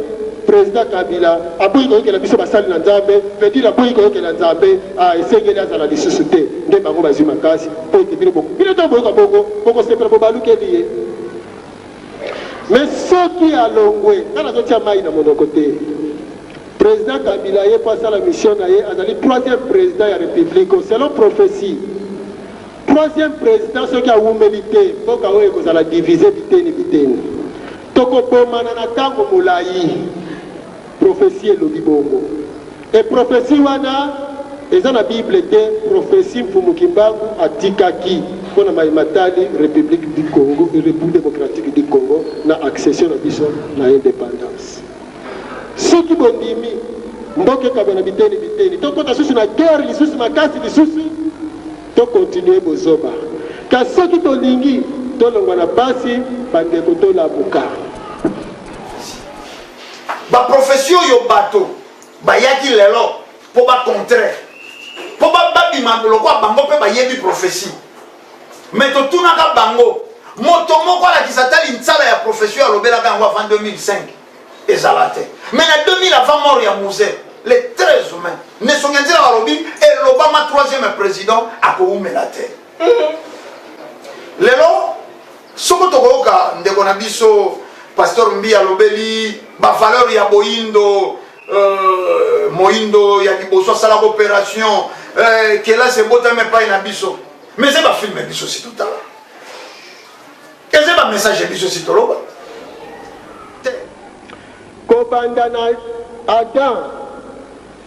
president kabila aboyi koyokela biso basali na nzambe veut dire aboyi koyokela nzambe ah esengeli azala lisusu te nde bango bazwi makasi po ete bino boko bino tango boyoka bongo bokosepela bobalukeli ye me soki alongwe nga nazotia mai na monoko te president kabila ye po asala mission na ye azali troisième president ya republique selon prophetie Troisième president soki awumeli te mboka oyo ekozala divise biteni biteni. Tokobomana na tango molayi. Prophetie elobi bongo. Et prophetie wana eza na bible te, prophetie Mfumu Kimbangu atikaki mpo na maye matali Republique du Congo, Republique democratique du Congo na accession na biso na independance. Soki bondimi mboka ekabwana biteni biteni, tokota susu na guerre lisusu makasi lisusu. To continuer bozoba. Kasi soki tolingi tolongwa na pasi bandeko tolamuka. Ba prophetie oyo bato bayaki lelo mpo ba contre mpo babima lokwa bango mpe bayebi prophetie me totunaka bango moto moko alakisa ata linsala ya prophetie oyo alobelaka yango avant 2005 ezala te mais na 2000 avant mort ya musee le 13 mai nesongi nzela balobi elobama troisième président akowumela te mhm. lelo soko tokoyoka ndeko na biso pasteur mbi alobeli bavaleur ya boyindo euh, moyindo ya liboso asalaka opération euh, kelasi ebotami epai na biso mais eza bafilme biso si totala eza ba message biso si toloba kobanda na adam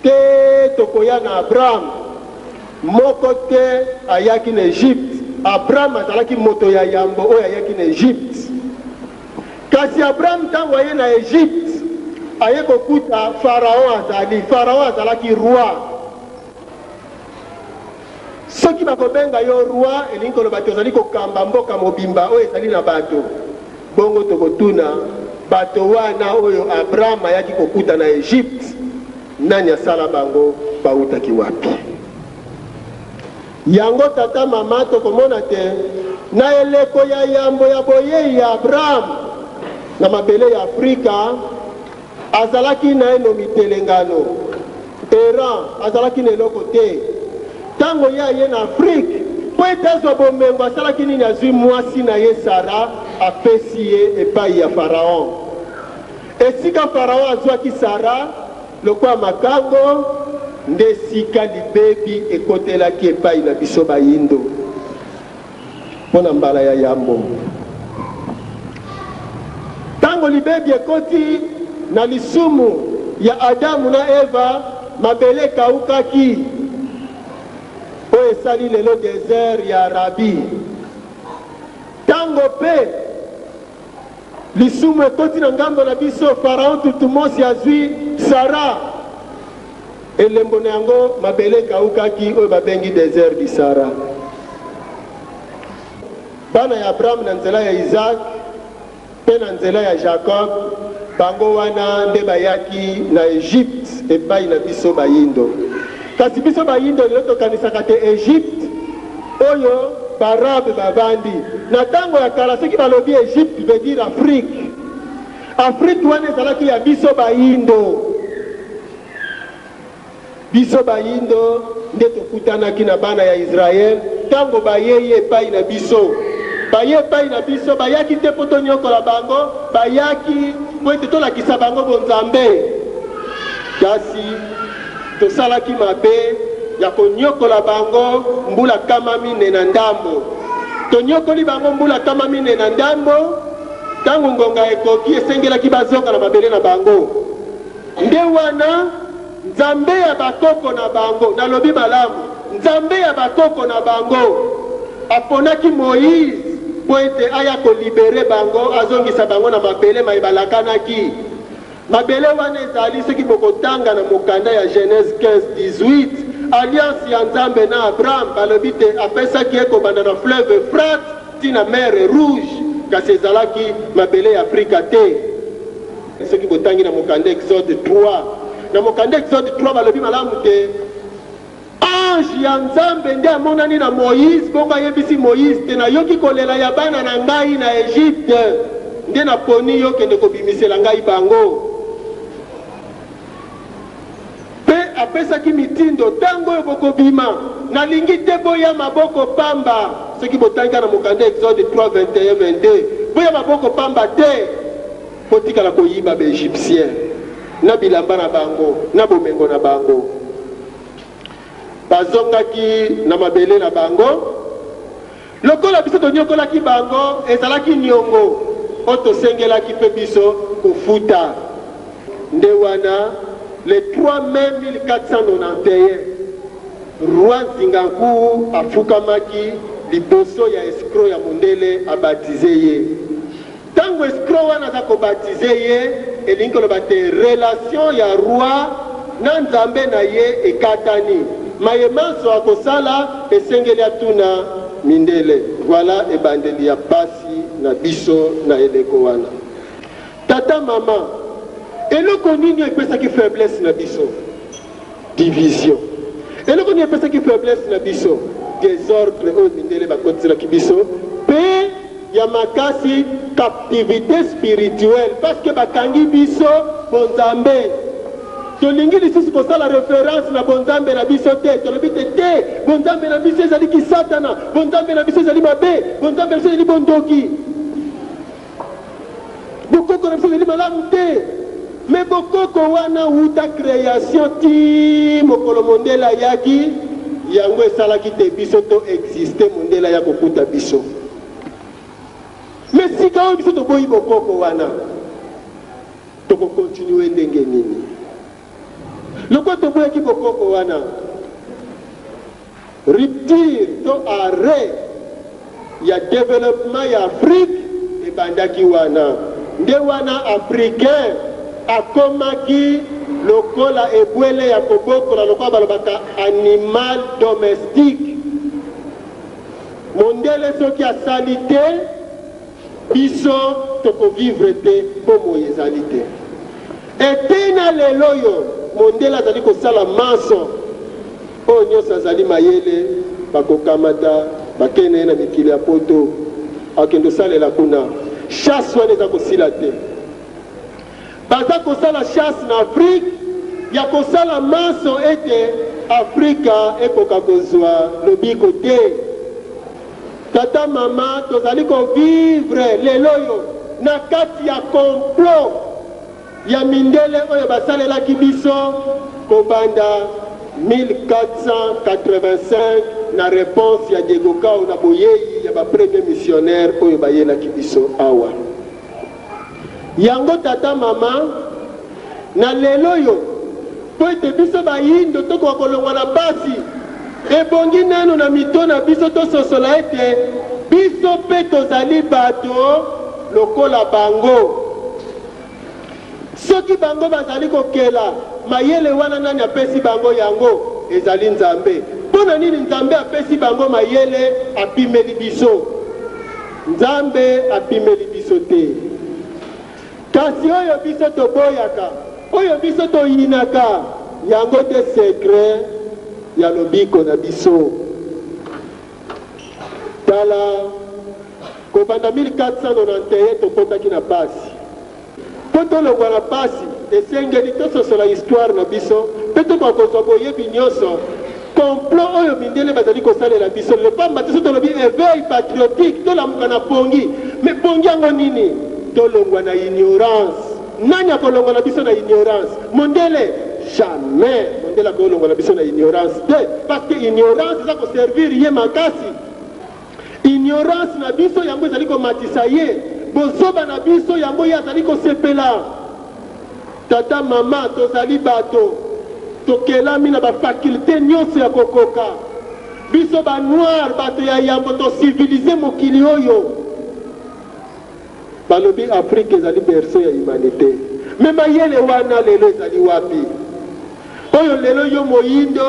te tokoya na abraham moko te ayaki na egypte abraham azalaki moto ya yambo oyo ayaki na egypte kasi abraham ntango aye na egypte aye kokuta faraon azali faraon azalaki roi Soki bakobenga yo Roi, elingi koloba te ozali kokamba mboka mobimba oyo ezali na bato. Bongo tokotuna, Bato wana oyo Abraham ayaki kokuta na Egypte, nani asala bango? Bawutaki wapi? Yango tata, mama, tokomona te na eleko ya yambo ya boyei ya Abraham na mabele ya Afrika, Azalaki naino mitelengano, errant, azalaki na eloko te. Ntango Ye aye na Afrique mpo ete azwa bomengo, asalaki nini? Azwi mwasi na ye Sara, apesi ye epai ya Pharaon. Esika Pharaon azwaki Sara lokola makango, nde esika libebi ekotelaki epai na biso Bayindo. Mpo na mbala ya yambo, ntango libebi ekoti na lisumu ya Adamu na Eva, mabele ekaukaki. Oyo esali lelo desert ya Arabie. Ntango mpe Lisumu ekoti na ngambo na biso, Pharaon Thutmosi azwi Sarah. Elembo na yango, mabele ekawukaki, oyo babengi desert du Sahara. Bana ya Abraham na nzela ya Isaac mpe na nzela ya Jacob, bango wana nde bayaki na Egypte epai na biso bayindo. Kasi biso bayindo lelo tokanisaka te Egypte. Oyo ba arabe bavandi na tango ya kala soki balobi Egypte veut dire Afrique Afrique wana ezalaki ya biso bayindo biso bayindo nde tokutanaki na bana ya Israël tango bayei epai na biso baye epai na biso bayaki te mpo tonyokola bango bayaki mpo ete tolakisa bango bonzambe kasi Tosalaki mabe ya konyokola bango mbula kama mine na ndambo. Tonyokoli bango mbula kama mine na ndambo, tango ngonga ekoki, esengelaki bazonga na mabele na bango. Nde wana Nzambe ya bakoko na bango, nalobi malamu, Nzambe ya bakoko na bango, aponaki Moïse mpo ete aya ko liberer bango, azongisa bango na mabele maye balakanaki. Mabele wana ezali, soki bokotanga na mokanda ya Genese 15, 18, alliance ya Nzambe na Abraham, balobi te apesaki ye kobanda na fleuve Euphrate ti na mer Rouge, kasi ezalaki mabele ya Afrika te. Soki botangi na mokanda Exode 3, na mokanda Exode 3, balobi malamu te. Ange ya Nzambe nde amonani na Moïse, bongo ayebisi Moïse te, Nayoki kolela ya bana na ngai na Egypte, nde naponi yo kende kobimisela ngai bango. Pe apesaki mitindo, Tango oyo bokobima, nalingi te boya maboko pamba. Soki botangi kaka na mokanda Exode 3, 21, 22, boya maboko pamba te, botikala koyiba ba Egyptiens na bilamba na bango, na bomengo na bango. Bazongaki na mabele na bango. Lokola biso tonyokolaki bango, ezalaki nyongo oyo tosengelaki mpe biso kofuta. Nde wana, le 3 mai 1491, Roi Nzingankuwu afukamaki liboso ya escroc ya mondele a baptiser ye. Tango escroc wana aza ko baptiser ye, elingi koloba te relation ya Roi na Nzambe na ye ekatani. Maye manso akosala esengeli atuna mindele. Voilà ebandeli ya pasi na biso na eleko wana. Tata, maman, eloko nini oyo epesaki faiblesse na biso? Division. Eloko nini epesaki faiblesse na biso? Desordre oyo mindele bakotiselaki biso pe ya makasi captivite spirituelle parce que bakangi biso bonzambe. Tolingi lisusu kosala reference na bonzambe na biso te. Tolobi te te bonzambe na biso ezali kisatana, bonzambe na biso ezali mabe, bonzambe na biso ezali bondoki. Bokoko na biso ezali malamu te, mais bokoko wana wuta creation ti mokolo mondele ayaki, yango esalaki te biso to existe mondele aya kokuta biso. Mais sika oyo biso toboyi bokoko wana, toko continuer ndenge nini? Lokola toboyaki bokoko wana, rupture to arret ya developpement ya Afrique ebandaki wana. Nde wana Africain akomaki lokola ebwele ya kobokola, lokola balobaka animal domestique. Mondele soki asali te, Biso toko vivre te bomoi ezali te et tee na lelo oyo mondele azali kosala manso oyo nionso azali mayele bakokamata bakei na ye na mikili ya poto akende osalela kuna chasse wana eza kosila te. Baza kosala chasse na Afrique ya kosala manso ete Afrika ekoka kozua lobiko te. Tata mama tozali ko vivre lel'oyo na kati ya complot ya mindele oyo basalelaki biso kobanda 1485 na reponse ya Diego Cao na boyeyi ya ba premier missionnaire oyo bayelaki biso awa. Yango tata, mama, na lel'oyo, mpo ete biso bayindo tokoka kolongwa na pasi, ebongi nanu na mito na biso tososola ete biso mpe tozali bato lokola bango. Soki bango bazali kokela mayele wana, nani apesi bango yango? Ezali Nzambe. Mpo na nini Nzambe apesi bango mayele? Apimeli biso. Nzambe apimeli biso te. Kasi oyo biso toboyaka, oyo biso toyinaka, yango nde sekre ya lobiko na biso. Tala, kobanda 1491 tokotaki na pasi. Mpo tolongwa na mpasi, esengeli tososola istware na biso mpe tokoka kozwa boyebi nyonso complot oyo mindele bazali kosalela biso lelo. Mpamba te soki tolobi eveil patriotique, tolamuka na pongi. Mais pongi yango nini? Tolongwa na ignorance. Nani akolongola biso na ignorance? Mondele? Jamais mondele akoki kolongola biso na ignorance te, parce que ignorance eza koservir ye makasi. Ignorance na biso yango ezali komatisa ye, bozoba na biso yango ye azali kosepela. Tata, mama, tozali bato, tokelami na ba facultes nionso ya kokoka. Biso ba noirs, bato ya yambo, to civiliser mokili oyo. Balobi Afrique ezali berceau ya humanite mais mayele wana lelo ezali wapi? Oyo lelo yo moyindo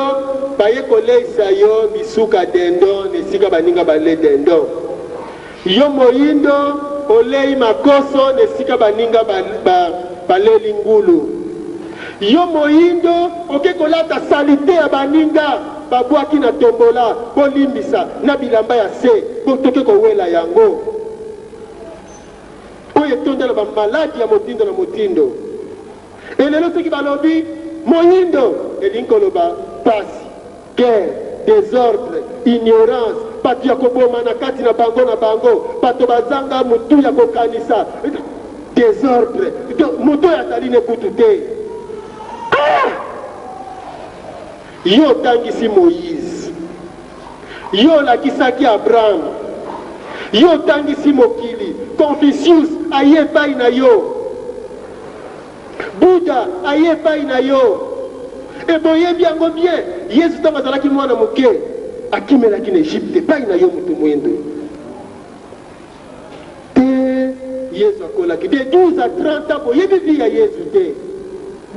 baye koleisa yo bisuka dindon na esika baninga balie dindon. Yo moyindo oleyi makoso na esika baninga ba, ba, baleli ngulu. Yo moyindo oke kolata salite ya baninga babwaki na tombola, bolimbisa, na bilamba ya se, bo toke kowela yango. oyo etonda na bamaladi ya motindo na motindo. E lelo soki balobi moindo, elingi koloba pasi, guerre, desordre, ignorance, bato ya kobomana kati na bango na bango, bato bazanga motu ya kokanisa, desordre, moto oyo azali ne kutu te. Ah! Yo otangisi Moïse. Yo olakisaki Abraham, yo otangisi mokili, Confucius aye epai na yo, Buddha aye epai na yo, e boyebi yango bien. Yesu ntango azalaki mwana moke, akimelaki na Egypte epai na yo, moto moindo. Tee Yezu akolaki de 12 à 30 ans boyebi vie ya Yezu te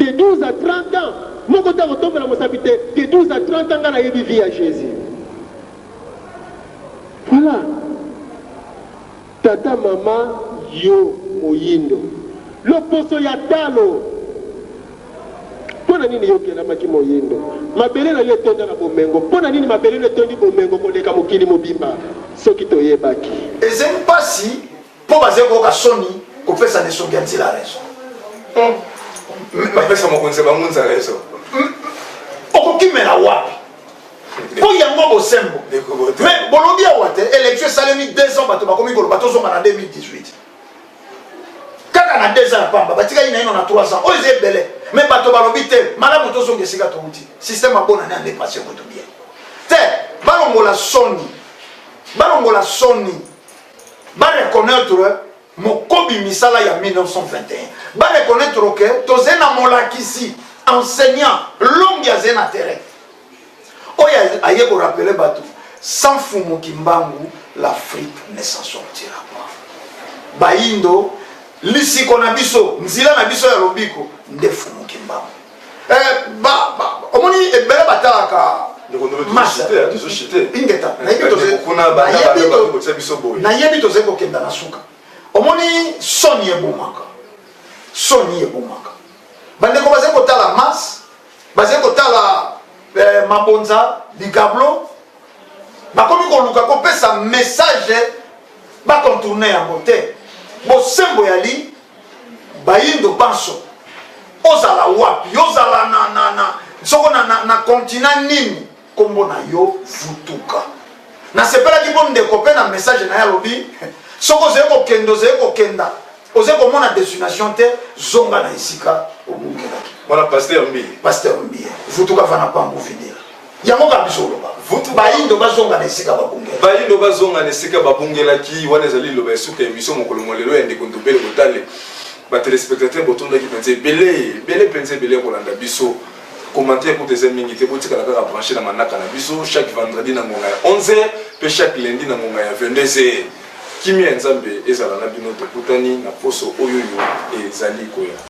de 12 à 30 ans moko te akotombola mosapi te de 12 à 30 ans nga nayebi vie ya Jesus voilà tata mama yo moyindo loposo ya talo Mpo na nini yo okelamaki moindo? Mabele na yo etonda na bomengo. Mpo na nini mabele na yo etondi bomengo koleka mokili mobimba? Soki toyebaki. Ezali mpasi mpo bazali koyoka soni kopesa na esongi ya nzela rezo. Hmm. Bapesa mokonzi ya bangunza rezo. Hmm. Okokimela wapi? mpo yango bosembo mais bolobi awa te élection esalemi 2 ans bato bakomi koloba tozonga na 2018 kaka na 2 ans ya pamba batikaki naino na 3 ans oyo eza ebele me bato balobi te malamu tozonga esika touti systeme abona nde andepase kutu bien te balongola soni balongola soni bareconnaitre mokobi misala ya 1921 bareconnaitre ke tozali na molakisi enseignant longi azali na terrain oyo aye ko rappeler bato sans fumu kimbangu l'afrique ne s'en sortira pas bayindo lisiko na biso nzela na biso ya lobiko nde fumu kimbangu eh, ba, ba, omoni ebele batalaka ingeta nayebi tozali kokenda na suka omoni soni ebomaka soni ebomaka bandeko bazali kotala masse bazali kotala eh, mabonza likablo bakomi koluka kopesa message bakontourne yango te bosembo ya li bayindo banso ozala wapi ozala na, na, na, soko na, na, na kontina nini Kombo na yo vutuka. Nasepelaki mpo ndeko mpe na message na ye alobi soki ozali kokenda ozali kokenda ozali komona destination te zonga na esika obungelaki. Wana pasteur mbi. Pasteur mbi. Vutuka vana pangu vinila. Yango ka biso oloba. Vutu bayindo bazonga na esika babungela. Bayindo bazonga na esika babungelaki wana ezali loba esuka emission mokolo mwa lelo ya ndeko Ndobele Botale. Ba telespectateurs botondaki penza ebele ebele penza ebele kolanda biso. Commentaire kutu eza mingi te, botikala kaka branche na manaka na biso chaque vendredi na ngonga ya 11h pe chaque lundi na ngonga ya 22h. Kimia ya Nzambe ezala na bino, tokutani na poso oyoyo ezali koya.